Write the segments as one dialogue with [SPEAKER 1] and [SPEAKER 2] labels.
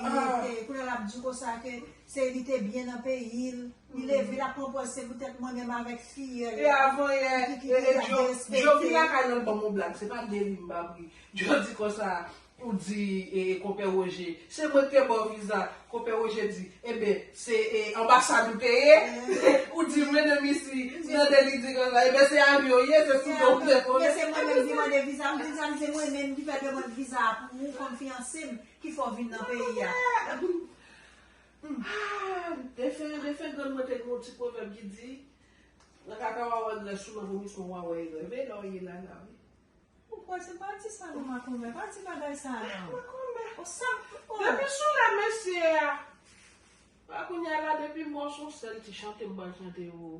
[SPEAKER 1] Aah. Epi kounye a lap di konsa ke se li te byen nan peyi l. Li leve lap pran pòz se poutèt mwen menm avèk fiyèl. E avan yè
[SPEAKER 2] rele djo djo vin lakay lòt banm yon blag se pa Dely m bab ri djo di konsa ou di konpè Roger se mwen k te baw viza konpè Roger di eben se anbasad ou te ye ou di mwen nan misi nan Dely di konsa eben se avyon ou ye se sou do m te volan. Men se mwen menm ki mande
[SPEAKER 1] viza m viza m se mwen menm ki fè demand viza a pou ou kòm fiyanse m.
[SPEAKER 2] Ki fè w vin nan peyi a? Defen, defen grann mwen te gen yon ti pwovèb ki di, Nan kaka wa wè grès ou, nan vomisman wa wè erè. Veye lè w ye la la wi. Ou
[SPEAKER 1] kwè se pa di sa non makomè, pa di bagay sa non. Makomè. Ou sa oh. Depi sou lè
[SPEAKER 2] mesye a. Pa kounya la depi mò son sèl ti chante m pral chante oo.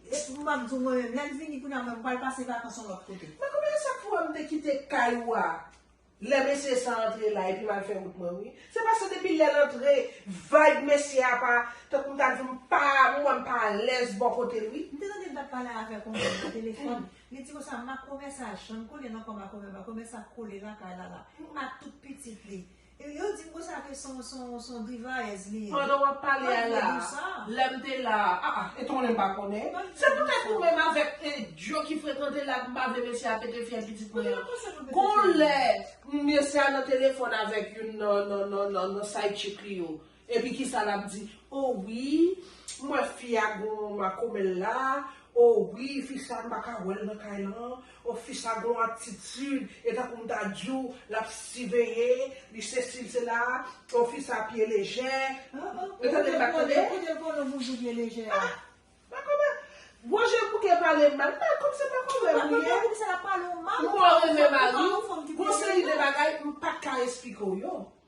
[SPEAKER 1] Epou map diw mwen menm lèl vini kounya mwen pral pase vakans yon lòt kote. Mwen komanse chak fwa m
[SPEAKER 2] te kite kay ou a lè mesye sa antre la epi m al fè wout mwen wi. Se paske depi lè l antre vibe mesye a pa tankou m ta di m pa m wè m pa alèz bò kote l wi. M te tande l t ap pale avèk
[SPEAKER 1] yon moun nan telefòn, li di konsa Makomè sa janm konnen nan kò Makomè, Makomè sa kole lakay Lala ak tout pitit li. Yo dim konsa ke son drivayèz li ye. Pandan wap pale a la,
[SPEAKER 2] lèm te la a. Ah ah, e tonlèm pa konnen. Se pou tèt ou menm avèk Djo ki frekante la ki pa vle mesye a pete fyèl pitit mwen an. Gon lè, mesye a nan telefòn avèk youn nan side chick li yo. Epi kisa lap di oh wi m wè fi a gon makomèl la oh wi fi sa m paka wèl nan kay lan oh fi sa gon atitid e tankou m ta diw lap siveye li sesi li sela oh fi sa pye lejè ou tande m pa tande kote l konnen boujou pye lejè
[SPEAKER 1] a makomè
[SPEAKER 2] bonje bouke pale mal m pa konn se makomè m li ye
[SPEAKER 1] m mò renmen mariw
[SPEAKER 2] gon seri de bagay m patka esplike w yo.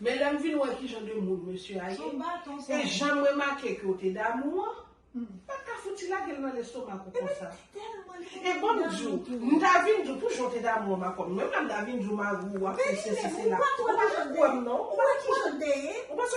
[SPEAKER 2] Men lèm vin wè kijan de moun mesye a ye, e janm remake ke w te damou an, m pat ka fouti lage l nan lestomak ou konsa. E banm di w, m ta vin di w pou jan w te damou an m akonn, menm lè m ta vin di w mari w ap fè sesi sela, ou pa janm kwè m non, ou pa kwè m, ou panse.